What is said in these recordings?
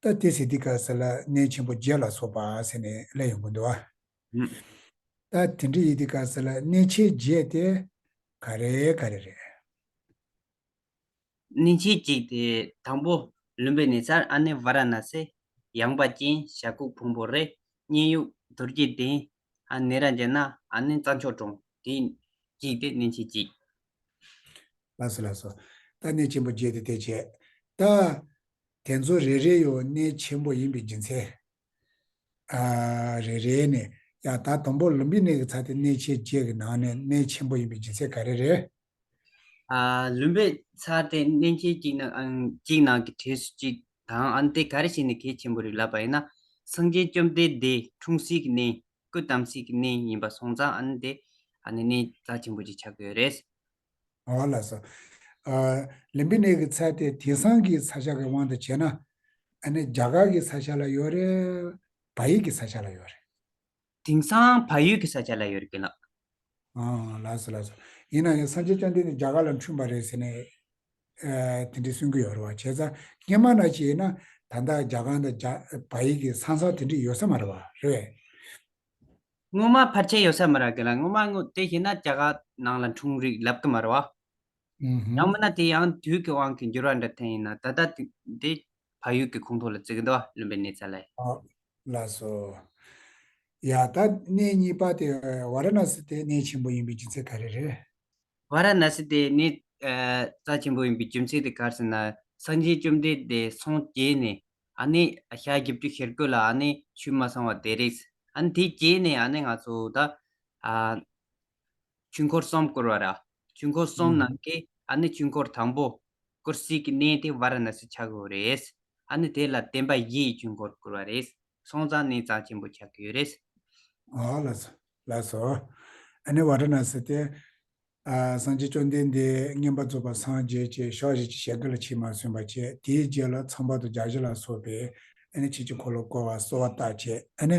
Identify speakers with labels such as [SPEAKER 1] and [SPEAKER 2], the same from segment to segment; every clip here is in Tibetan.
[SPEAKER 1] ཏཱ་ཏི་སི་ཏི་ཀ་ཟེར་ལ་གནས་ཆེན་པོ་བརྒྱད་ལ་སོགས་པ་ཟེར་ནས་ལས་ཡོངས་ཀུན་འདུ་བ། ཏཱ་དི་འདྲི་ཡི་ཏི་ཀ་ཟེར་ལ་གནས་ཆེན་བརྒྱད་དེ་ག་རེ་ག་རེ་རེད། གནས་
[SPEAKER 2] ཆེན་གཅིག་དེ་དང་པོ་ལུམ་བི་ནི་སར་ཨ་ནི་བྷ་ར་ན་སེ། ཡངས་པ་ཅན་ཞྭ་ཁུག་ཕུང་པོ་རེ། མཉན་ཡུག་དུར་རྒྱལ་གདན། ཨ་ནི་ར་འཇ་ན་ཨ་ནི་རྩྭ་མཆོག་གྲོང་དེ་གཅིག་དེ་གནས་ཆེན་གཅིག། ལ་སོགས་ལ་སོགས།
[SPEAKER 1] རྟགས་གནས་ཆེན་པོ་བརྒྱད་དེ་དེ་བྱས། རྟགས། དེ་ཚོ་རེ་རེ་ཡོད་གནས་ཆེན་པོ་ཡིན་པའི་རྒྱུ་མཚན། རེ་རེ་ནས་ཡང་དག་དང་པོ་ལུམ་བི་ནི་གི་ཚ་དེ་གནས་ཆེན་བརྒྱད་ཀྱི་ནང་ནས་གནས་ཆེན་པོ་ཡིན་པའི་རྒྱུ་མཚན་ག་རེ་རེད།
[SPEAKER 2] ལུམ་བི་ཚ་དེ་གནས་ཆེན་གཅིག་ནང་གི་གྲས་སུ་གཅིག་དང་ཨ་ནི་དེ་ག་རེ་བྱས་ནས་གལ་ཆེན་པོ་རེད་ལབ་པ་ཡིན་ན། སངས་རྒྱས་བཅོམ་ལྡན་འདས་འཁྲུངས་སྲིད་ཀྱི་གནས། སྐུ་དམ་ཚིག་གི་གནས་ཡིན་པ་སོང་ཙང་ཨ་ནི་དེ་ཨ་ནི་གནས་རྩ་ཆེན་པོ་ཅིག་ཆགས་ཀྱི་ཡོད་རེད། ཨ་བ་ལ་
[SPEAKER 1] སོགས། ལིམ་པི་ནེ་གི་ཚད་དེ་དེང་སང་གི་ཚ་ཤ་གི་དབང་དུ་བྱས་ན། ཨ་ནི་རྒྱ་གར་གྱི་ཚ་ཤ་ལ་ཡོད་རེད། བལ་ཡུལ་གྱི་ཚ་ཤ་ལ་ཡོད་རེད། དེང་སང་
[SPEAKER 2] བལ་ཡུལ་གྱི་ཚ་ཤ་ལ་ཡོད་རེད་ཀི་ལགས། ཨང། ལགས་
[SPEAKER 1] སོ་ལགས་སོ། ཡིན་ན་ཡང་སངས་རྒྱས་བཅོམ་ལྡན་འདས་རྒྱ་གར་ལ་འཁྲུངས་པ་རེད་ཟེར་ནས། དེ་འདྲའི་གསུང་གི་ཡོད་རེད་བ། བྱས་ཙང་རྙེད་མ་ན་བྱས་ན་ད་ལྟ་རྒྱ་གང་དང་རྒྱ་བ་ཡིག་གི་ས་མཚམས་དེ་འདྲའི་ཡོད་ས་མ་རེད་བ། རེད་བས། སྔོན་
[SPEAKER 2] མ་ཕར་ཆེར་ཡོད་ས་མ་རེད་གི་ལ་སྔོན་མ་དངོས་དེ་བྱས་ན་རྒྱ་གར་ནང་ལ་འཁྲུངས་རིགས་ལབ་གི་མ་རེད་བ། ཡང་
[SPEAKER 1] མིན་ན་དེ་ཡང་དུས་
[SPEAKER 2] ཀྱི་དབང་གིས་འགྱུར་བ་འདྲ་ཐེངས་ཡིན་ན་ད་ལྟ་དེ་འདྲའི་བ་ཡུག་གི་ཁུངས་ཐོག་ལ་བརྩི་གི་འདུག་བ་བླུན་པའི་གནས་ཚད་ལས། ལ་སོ།
[SPEAKER 1] ཡང་དག་གནས་གཉིས་པ་དེ་ཝཱ་ར་ན་སི་དེ་གནས་ཆེན་པོ་ཡིན་པའི་རྒྱུ་མཚན་ག་རེ་རེད། ཝཱ་ར་ན་སི་
[SPEAKER 2] དེ་གནས་རྩ་ཆེན་པོ་ཡིན་པའི་རྒྱུ་མཚན་དེ་ག་རེ་ཟེར་ན་སངས་རྒྱས་བཅོམ་ལྡན་འདས་སངས་རྒྱས་ནས་ཨ་ནི་ཞག་བཞི་བཅུ་ཤེར་སྒོས་ལ་ཨ་ནི་ཆོས་མ་ཚང་བ་དེ་རེད། ཨ་ནི་དེ་རྗེས་ནས་ཨ་ནི་ང་ཚོ་ད། དཀྱིལ་འཁོར་གསུམ་བསྐོར་བ་ར། དཀྱིལ་འཁོར་གསུམ་ནང་གི་ཨ་ནི་དཀྱིལ་འཁོར་དང་པོ། སྐོར་སྲིད་ཀྱི་གནས་དེ་བ་ར་ན་སི་ཆགས་ཡོད་རེད། ཨ་ནི་དེ་ལ་བརྟེན་པ་བཞི་ཡི་དཀྱིལ་འཁོར་བསྐོར་བ་རེད། སོང་ཙང་གནས་གཙང་ཆེན་པོ་ཆགས་ཀྱི་ཡོད་རེད། ཨོ་ལ་
[SPEAKER 1] སོ། ལ་སོ། ཨ་ནི་བ་ར་ན་སི་སྟེ། སངས་རྒྱས་བཅོམ་ལྡན་འདས་བསྙེན་པར་རྫོགས་པ་སངས་རྒྱས་ཀྱི་ཕྱག་བཞི་ཅིག་ཞལ་དུ་ལ་ཕྱི་མར་སོན་པ་བྱས་དེའི་རྗེས་ལ་ཚངས་པ་དུ་བརྒྱ་བཞི་ལ་སོགས་པའི་ཨ་ནི་ཕྱི་དཀྱིལ་འཁོར་ལོ་བསྐོར་བ་གསོལ་བ་བཏབ་བྱས་ཨ་ནི།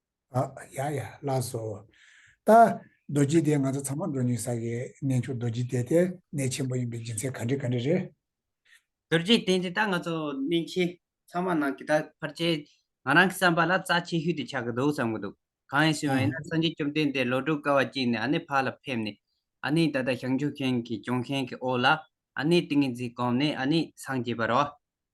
[SPEAKER 2] ཨ། ཡ་ཡ།
[SPEAKER 1] ལགས་སོ། ད། རྡོ་རྗེ་དེ་ང་ཚོ་ཚང་མ་འགྲོ་ཉུལ་ས་གི་གནས་མཆོག་རྡོ་རྗེ་དེ་དེ་གནས་ཆེན་པོ་ཡིན་པའི་སྦྱིན་སྲེག་ག་འདྲི་ག་འདྲི་རེད། རྡོ་རྗེ་
[SPEAKER 2] དེ་འདི་ད་ང་ཚོ་གནས་ཆེན་ཚང་མ་ནང་གི་ད་ཕར་ཆེར་ང་རང་གི་བསམ་པ་ལ་རྩ་ཆེ་ཤོས་དེ་ཆགས་ཀྱི་འདུག་བསམ་གྱི་འདུག་གང་ཡིན་ཟེར་བ་ཡིན་ན་སངས་རྒྱས་བཅོམ་ལྡན་འདས་ལོ་དྲུག་དཀའ་བ་སྤྱད་ནས་ཨ་ནེ་ཕག་ལ་ཕེབས་ནས་ཨ་ནེའི་ད་ལྟ་ཞང་ཆུ་ཤན་གྱི་ལྗོན་ཤན་གྱི་འོག་ལ་ཨ་ནེའི་ཏིང་ངེ་འཛིན་བསྒོམས་ནས་ཨ་ནེ་སངས་རྒྱས་པར་རོ།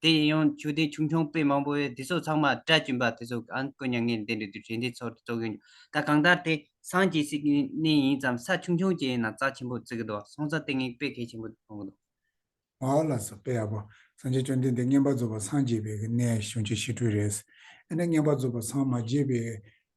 [SPEAKER 2] དེ་ཡིན་ཡང་ཆོས་དད་ཆུང་ཆུང་དཔེ་མང་པོ་བས་འདི་ཚོ་ཚང་མ་སྒྲ་གཅུན་པ་དེ་ཚོ་གང་དཀོན་མྱ་ངན་འདས་འདྲི་དུས་དྲན་དེ་ཚོར་རྩོད་གི་འདུག་ད་གང་ལྟར་དེ་སངས་རྒྱས་སྲིད་ཀྱི་གནས་ཡིན་ཙམ་ས་ཆུང་ཆུང་ཅན་ཡིན་ན་རྩ་ཆེན་པོ་བརྩི་གི་འདུག་སོང་ཙང་ལྟས་ངན་དཔེ་གལ་ཆེན་པོ་མཐོང་གི་འདུག། ཧོ་ལ་ས་
[SPEAKER 1] དཔེ་ཡག་པོ། སངས་རྒྱས་བཅོམ་ལྡན་འདས་བསྙེན་པར་རྫོགས་པ་སངས་རྒྱས་པའི་གནས་གཞུང་ཆེན་ཞི་ཁྲོའི་རེད། ཨེ་ན་བསྙེན་པར་རྫོགས་པ་སངས་མ་རྒྱས་པའི་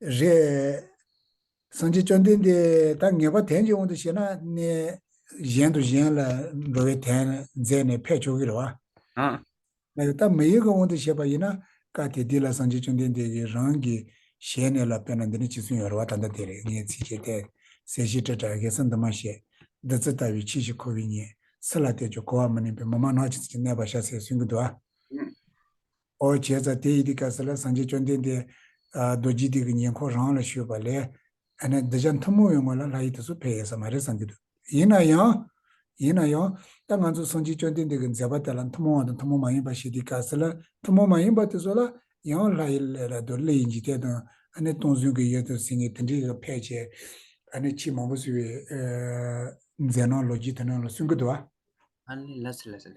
[SPEAKER 2] རེད།
[SPEAKER 1] སངས་རྒྱས་བཅོམ་ལྡན་འདས་ད་ངེས་པ་དན་གྱི་དབང་དུ་བྱས་ན་གནས་གཞན་དུ་གཞན་ལ་འགྲོ་བའི་དན་མཛད་ནས་ཕེབས་ཆོག་གི་རེད་བ། ཨང། ད་མི་ཡུལ་གྱི་དབང་དུ་བྱས་པ་ཡིན་ན་བཀའ་དེ་འདི་ལ་སངས་རྒྱས་བཅོམ་ལྡན་འདས་ཀྱིས་རང་གི་ཞལ་ནས་ལ་བསྟོད་ན་འདི་ནི་ཅི་ཚུལ་ཡོང་རེ་བ་ད་ལྟ་དེ་རེད་ངས་ཚིག་བཅད་གཏད། ཟས་ཤིག་སྤྲད་དྲག་གེ་སེམས་དུ་མ་བཤད། བདུད་རྩི་ལྟ་བུའི་ཁྱི་ཞིག་ཁོ་བོའི་ཉེསི་ལ་གཏད་ཅོག་གོ་བ་མི་ནིང་པའི་མི་མང་ནག་ཅིག་ཅིག་གནས་པ་ཤ་ཟའི་སུན་གྱི་འདུག་ཨ། ཨང། ཨོ་བྱས་ཙྪ་དེ་ཡི་དེ་ཀ་ས་ལ་སངས་རྒྱས་བཅོམ་ལྡན་འདས། རྡོ་རྗེ་དེ་གི་ཉེ་འཁོར་རང་ལ་ཞུས་པ་ལས། ཨ་ནི་འདི་བྱ་མཐུན་མོང་བའི་ངོ་ལ་ལྷ་ཡི་དེ་སོགས་ཕལ་ཡས་ས་མ་རེད་བསམ་གྱི་འདུག་ཡིན་ན་ཡང། ཡིན་ན་ཡང། ད་ང་ཚོ་སངས་རྒྱས་བཅོམ་ལྡན་འདས་ཀྱི་མཛད་པ་དེ་ལ་མཐུན་མོང་བ་དང་མཐུན་མོང་མ་ཡིན་པ་ཞེས་དེ་ཀ་ས་ལ་མཐུན་མོང་མ་ཡིན་པ་དེ་སོགས་ལ་ཡང་ལྷ་ཡི་ལས་ར་དོ་ལི་ཡི་འཇིག་རྟེན་དང་ཨ་ནི་སྟོང་གཟུང་གི་ཡོད་དོ་ཟེར་ངེས་དེ་འདྲའི་ཡོད་ཕལ་ཆེ། ཨ་ནི་ཆེས་མང་པོ་ཟེར་བའི། མཛད་སྣང་ལོ་རྒྱུས་དེ་རྣམས་ལ་སུན་གྱི་འདུག་ཨ། ཨ་ནི་ལ་
[SPEAKER 2] སི་ལ་སི་ལ།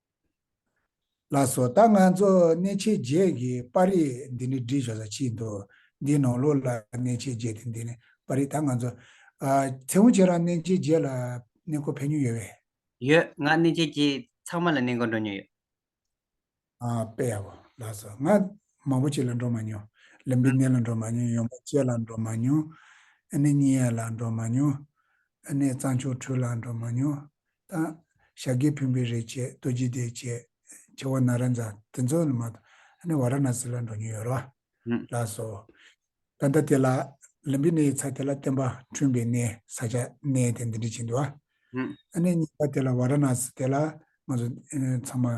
[SPEAKER 1] ལགས་སོ། ད་ང་ཚོ་གནས་ཆས་བརྒྱད་ཀྱི་པར་རིས་འདི་ནི་འབྲི་ཆོག་ས་ཅི་འདུག་འདིའི་ནང་ལོགས་ལ་གནས་ཆས་བརྒྱད་དེ་འདི་ནི་པར་རིས་ད་ང་ཚོ། མཚན་མོ་ཁྱེད་རང་གནས་ཆས་བརྒྱད་ལ་གནས་སྐོར་ཕེབས་མྱོང་ཡོད་བས། ཡོད། ང་
[SPEAKER 2] གནས་ཆས་བརྒྱད་ཚང་མ་ལ་གནས་སྐོར་འགྲོ་མྱོང་ཡོད།
[SPEAKER 1] པེ་ཡ་བོ་ལགས་སོ། ང་མང་པོ་ཅིག་ལ་འགྲོ་མ་མྱོང། ལུམ་བི་ནི་ལ་འགྲོ་མ་མྱོང་ཡོང་པ་ཅེ་ལ་འགྲོ་མ་མྱོང། ཨ་ནི་ཉི་ཡ་ལ་འགྲོ་མ་མྱོང། ཨ་ནི་གཙང་ཆུ་ཁྲུས་ལ་འགྲོ་མ་མྱོང། དང། ཤཱཀྱའི་བུས་འབུལ་རེ་བྱས་རྡོ་རྗེ་དེས་བྱས། བྱེ་བ་ན་ར་འཛ་དེ་ཚོ་ནི་མ་གཏོགས་ནི་བ་ར་ན་སི་ལ་འགྲོ་མྱོང་ཡོད་རོ། ལགས་སོ། ད་ལྟ་དེ་ལ། ལིམ་པི་ནི་ཡི་ཚ་དེ་ལ་བརྟེན་པ་འཁྲུན་པའི་གནས་ས་ཆ་གནས་དེ་འདི་འདྲི་བྱེད་འདུ་བ། ཨ་ནི་གཉིས་པ་དེ་ལ་བ་ར་ན་སི་དེ་ལ་ང་ཚོ་ཚང་མ།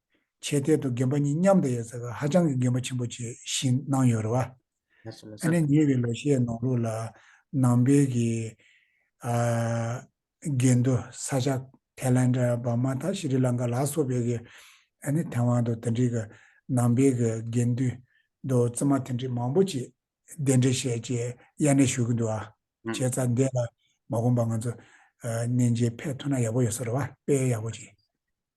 [SPEAKER 1] བྱས་གཏད་དུ་རྒན་པ་གཉིས་མཉམ་དུ་ཡོད་ཚད་ཧ་ཅང་གི་རྒན་པ་ཆེན་པོ་བྱེད་བཞིན་གནང་ཡོད་རེད་བ། ཨ་ནེ་
[SPEAKER 2] ཉེ་བའི་ལོ་ཤས་
[SPEAKER 1] ནང་ལུགས་ལ་ནང་པའི་གི་རྒན་དུ་ས་ཆ་ཐའི་ལན་དྲ་བར་མ་ཐ་ཤི་རི་ལང་ཀ་ལ་སོགས་པའི་གི་ཨ་ནེ་ཐའི་ཝང་དུ་དེ་འདྲའི་གི་ནང་པའི་གི་རྒན་དུ་དུ་བཙུན་མ་དེ་འདྲའི་མང་པོ་ཅིག་གདན་འདྲེན་བྱས་ཅེས་དབྱར་གནས་ཞུ་གི་འདུག་བ། བྱས་ཚ་འདས་ལ་མ་གོམས་པ་ང་ཚོ་གནས་མཇལ་ཕེབས་ཐུབ་ན་ཡག་པོ་ཡོད་ས་རེད་བ་དཔེ་ཡག་པོ་ཅིག།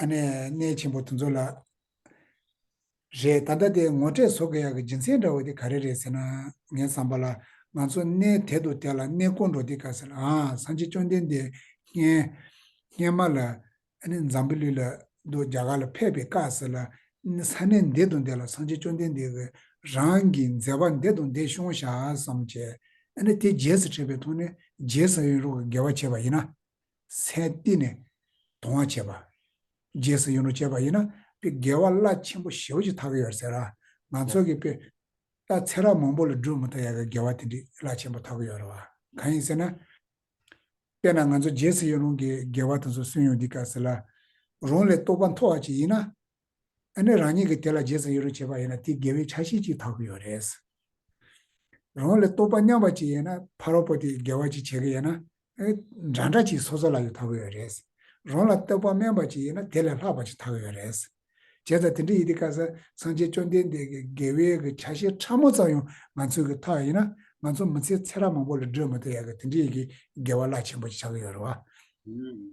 [SPEAKER 1] ཨ་ནེ་གནས་ཆེན་པོ་དུ་འཚོ་ལ། རེད་ད་ལྟ་དེ་ངོ་སྤྲད་བཟོ་གི་ཡག་གི་སྦྱིན་སྲེག་འདྲ་བོ་དེ་ག་རེ་རེད་ཟེར་ན། ངའི་བསམ་པ་ལ། ང་ཚོ་གནས་དེ་དུ་བསྡད་ལ་གནས་བསྐོར་འགྲོ་དེ་ག་ཟེར་ཨ། སང་ཆེ་བཅོ་ལྡན་འདས། སྔན་མ་ལ། ཨ་ནེ་འཛམ་བུ་ལུས་ལ། འདུག་རྒྱ་གར་ལ་ཕེབས་པས་ག་ཟེར་ལ། ས་གནས་འདི་དུ་བསྡད་ལ་སང་ཆེ་བཅོ་ལྡན་འདས། རང་གི་མཛེས་པ་འདི་དུ་འདི་ཤོང་ཤག་བསམ་བྱས། ཨ་ནེ་དེ་རྗེས་སུ་ཁྲིད་པའི་ཐོག་ནས་རྗེས་ས་ཡོན་རོགས་ཀྱི་དགེ་བ་བྱས་པ་ཡིན་ན། སའི་སྟེང་ནས་དོང་བར་བྱེད་པ། རྗེས་སུ་ཡོང་རུང་བྱེད་པ་ཡིན་ན་དཔེ་དགེ་བ་བླ་ཆེན་པོ་ཞེ་བོ་ཞིག་ཐག་གི་ཡོད་ཟེར། ང་ཚོ་གི་དཔེ་ལྟ་ཚེ་རབས་མང་པོ་ལ་སྒྲུབ་མི་ཐུབ་ཡ་གི་དགེ་བ་དེ་འདྲི་བླ་ཆེན་པོ་ཐག་གི་ཡོད་རེད་བ། གང་ཡིན་ཟེར་ན། དཔེ་ན་ང་ཚོ་རྗེས་སུ་ཡོང་རུང་གི་དགེ་བ་དེ་ཚོ་སུན་ཡོང་འདི་ག་ཟེར་ལ། རང་ལས་རྟོགས་པ་མཐོ་བ་ཅིག་ཡིན་ན། ཨ་ནི་རང་ཉིད་ཀྱིས་དེ་ལ་རྗེས་སུ་ཡི་རུང་བྱེད་པ་ཡིན་ན་དེ་དགེ་བའི་ཆ་ཤས་གཅིག་དག་གི་ཡོད་རེད། རང་ལ་རྟོག་པ་སྙམ་པ་ཅིག་ཡོད་ན་ཕ་རོལ་པོ་དེ་དགེ་བ་ཅིག་བྱེད་ཀྱི་ཡོད་ན། འདྲ་འདྲ་ཅིག་སོ་སོ་ལ་ཡོད་དག་གི་ཡོད་རེད། རང་ལ་རྟོག་པ་དམན་པ་ཅིག་ཡོད་ན་དེ་ལས་ལྷག་པ་ཅིག་དག་གི་ཡོད་རེད། བྱས་ཙང་དེ་འདྲ་ཡིན་དུས་སྐབས་སུ་སངས་རྒྱས་བཅོམ་ལྡན་འདས་ཀྱི་དགེ་བའི་གྱི་ཆ་ཤས་ཕྲ་མོ་ཙམ་ཡང་ང་ཚོས་གི་ཐོག་ཡིན་ན་ང་ཚོ་མི་ཚེ་ཚེ་རབས་མང་པོ་ལ་བགྲོད་མི་ཐུབ་ཡག་གི་དེ་འདྲ་ཡི་གི་དགེ་བ་རླག་ཆེན་པོ་ཅིག་བྱ་གི་ཡོད་རེད་བ།